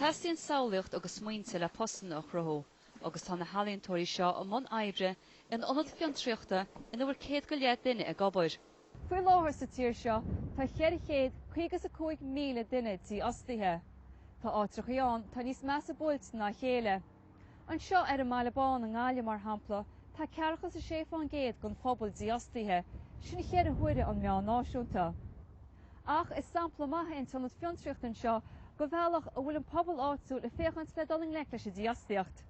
Teastaíonn samhlaíocht agus smaointe le postanna a chruthú agus tá na healaíontóirí seo i mbun oibre in ionad fiontraíochta ina bhfuil céad go leith duine ag obair. Faoi láthair sa tír seo tá cheithre chéad caoga is a cúig míle duine dífhostaithe. Tá áitreachaí ann atá níos measa buailte ná a chéile. Anseo ar an mBaile Bán i nGaillimh, mar shampla, tá ceathracha is a sé fán gcéad den phobal dífhostaithe, sin cheithre huaire an meán náisiúnta. Ach is sampla maith é an t-ionad fiontraíochta anseo de bhealach a bhfuil an pobal áitiúil ag féachaint le dul i ngleic leis an dífhostaíocht.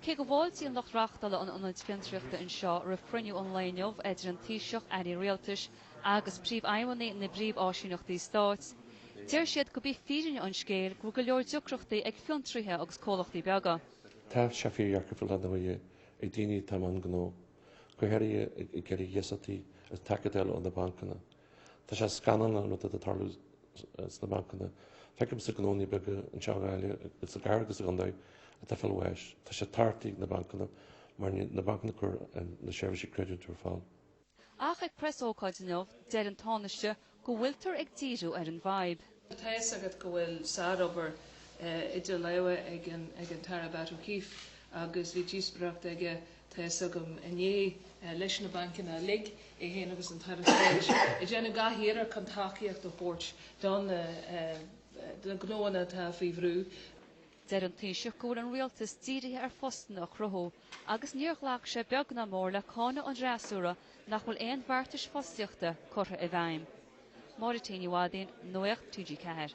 Cé go bhfáiltíonn lucht reáchtála an ionaid fiontraíochta anseo roimh chruinniú an lae inniu idir an Taoiseach, Airí Rialtais, agus príomhfheidhmeannaigh na bpríomháisíneachtaí stáit, deir siad gurb í fírinne an scéil go bhfuil go leor deacrachtaí ag fiontraithe agus comhlachtaí beaga. Tá sé fíordheacair faoi láthair ar ndóigh ag daoine atá i mbun gnó, go háirithe ag iarraidh iasachtí agus ag déileáil leis na bancanna. Tá sé scannalach an rud atá ag tarlú sna bancanna. Feicimse gnónna beaga anseo i nGaillimh agus i gcathair agus i gcontae atá ag fáil bháis. Tá siad tachta ag na bancanna mar níl na bancanna ag cur na seirbhísí creidmheasa ar fáil. Ach ag preasócáid inniu, deir an Tánaiste go bhfuiltear ag díriú ar an bhfadhb. Tá a fhios agat go bhfuil sárobair idir lámha ag an tAire Batt O'Keeffe agus bhí díospóireacht aige, tá a fhios agam, inné leis na bancanna uilig, é féin agus an tAire Stáit, ag déanamh gach iarracht chun tacaíocht a thabhairt do na gnóanna atá faoi bhrú. Deir an Taoiseach go bhfuil an Rialtas dírithe ar phostanna a chruthú. agus níor ghlac sé beag ná mór le cáineadh an fhreasúra nach bhfuil aon bheartais fostaíochta curtha i bhfeidhm. Máire T. Ní Mhadaoin, Nuacht TG4.